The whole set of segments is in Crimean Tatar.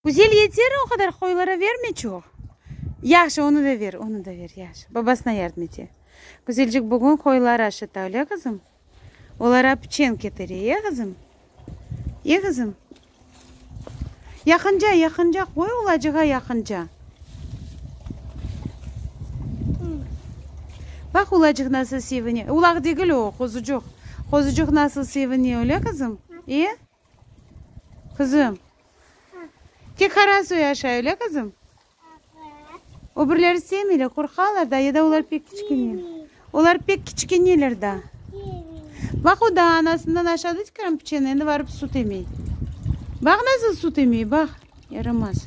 Güzel yeter, o qadar qoyulara verme çoq. Yahşı, onı da ver, onı da ver, yahşı. Babasına yardım ete. Güzelcik bugün qoyuları aşıta, öyle qızım? Olara piçen ketire, ye qızım? Ye qızım? Yaqınca, yaqınca qoy ulacığa yaqınca. Baq ulacıq nasıl sevine. Ulaq degil o, qozucuq. Qozucuq nasıl sevine, öyle qızım? E? Qızım. Tek Haras öy aşa, öyle qızım? Evet. Öbürleri sevmeyler, qorqalar da, ya da olar pek kiçkene. Olar pek kiçkeneler da. Bak o da anasından aşağı dedik kiram piçeni, endi varıp su temey. Bak nasıl su temey, bak. Yaramaz.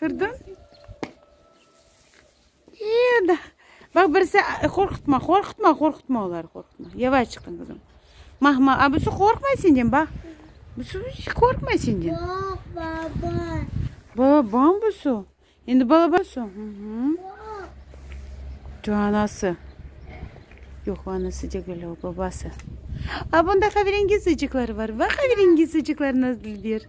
Kirdim. Eda. Bak birisi qorqutma, qorqutma, qorqutma oları, qorqutma. Yavaş çıqın kızım. Mahma, a busı qorqmay senden, bak. Busı hiç qorqmay senden. Yoq, baba. Babam busı. Endi balabası. Şu anası. Yox, anası degil, o babası. A bunda qaverengiz ıcıqları var. Bak qaverengiz ıcıqlarına Dilber.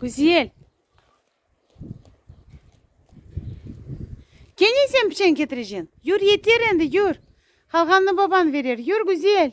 Güzel. Kene sen piçen ketireceksin? Yur, yeter endi, yur. Qalğanını baban berer. Yur, Güzel.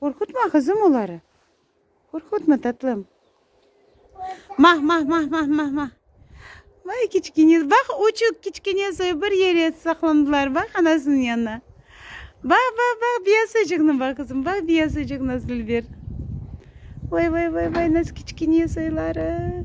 Qorqutma, qızım, oları. Qorqutma, tatlım. Mah, mah, mah, mah, mah, mah. Vay, kiçkene, bax, uçuq, kiçkene soy bir yere saqlandılar, bax, anasınıñ yanına. Bax, bax, bax, biyasıcıqnı bax, qızım, bax, biyasıcıq nasıl bir. Vay, vay, vay, vay, nasıl kiçkene soyları.